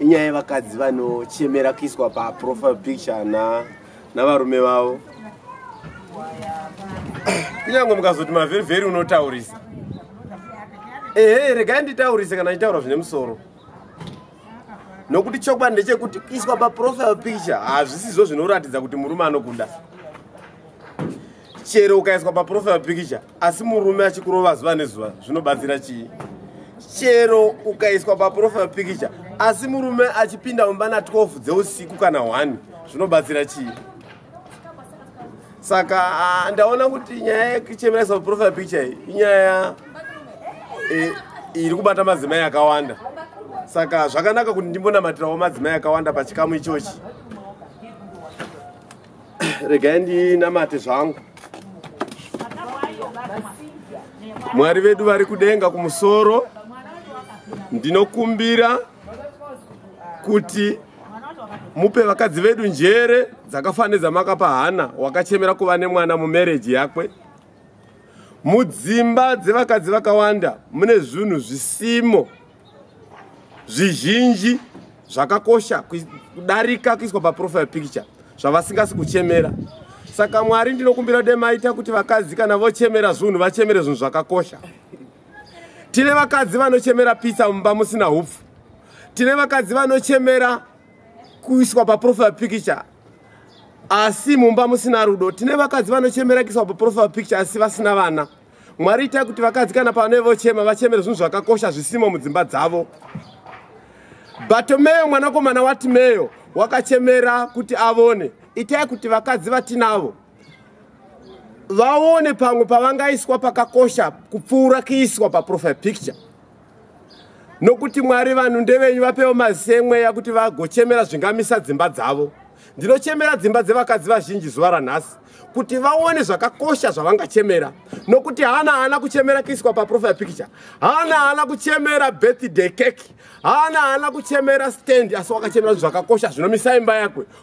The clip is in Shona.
inyaya yevakadzi vanochemera kuiswa paprofile picture na navarume vavo kunyange mukazoti mavheri vheri unotaurisa ehe regai nditaurise kana nditaura zvine musoro nokuti chokwadi ndechekuti kuiswa paprofile picture hazvisizvo zvinoratidza kuti murume anokuda chero ukaiswa paprofile picture asi murume achikurova zuva nezuva zvinobatsira chii chero ukaiswa paprofile pikicha asi murume achipinda mumba na 12 dzeusiku kana 1 zvinobatsira chii saka ah, ndaona kuti nyaya yekuchemeraisa paprofile pikicha iyi inyaya eh, iri kubata madzimai akawanda saka zvakanaka kuti ndimbonamatirawo madzimai akawanda pachikamu ichochi regai ndinamate zvangu mwari vedu vari kudenga kumusoro ndinokumbira kuti mupe vakadzi vedu njere dzakafanira dzamakapa hana wakachemera kuva nemwana mumereji yakwe mudzimba dzevakadzi vakawanda mune zvinhu zvisimo zvizhinji zvakakosha kudarika kuiswa paprofile picture zvavasingasi kuchemera saka mwari ndinokumbira kuti maita kuti vakadzi kana vochemera zvinhu vachemere zvinhu zvakakosha tine vakadzi vanochemera pitsa mumba musina hupfu tine vakadzi vanochemera kuiswa paprofile picture asi mumba musina rudo tine vakadzi vanochemera kuiswa paprofile picture asi vasina vana mwari itai kuti vakadzi kana pavanove vochema vachemere zvinhu zvakakosha zvisimo mudzimba dzavo bhatomeyo mwanakomana watimeyo wakachemera kuti avone itai kuti vakadzi vatinavo vaone pamwe pavangaiswa pakakosha kupfuura kuiswa paprofile picture nokuti mwari vanhu ndevenyu vapewo mazemweya kuti vagochemera zvingamisa dzimba dzavo ndinochemera dzimba dzevakadzi vazhinji zuva ranhasi kuti vaone zvakakosha zvavangachemera nokuti haana haana kuchemera kuiswa paprofile picture haana haana kuchemera birthday cake haana haana kuchemera stand asi wakachemera zvakakosha zvinomisa imba yakwe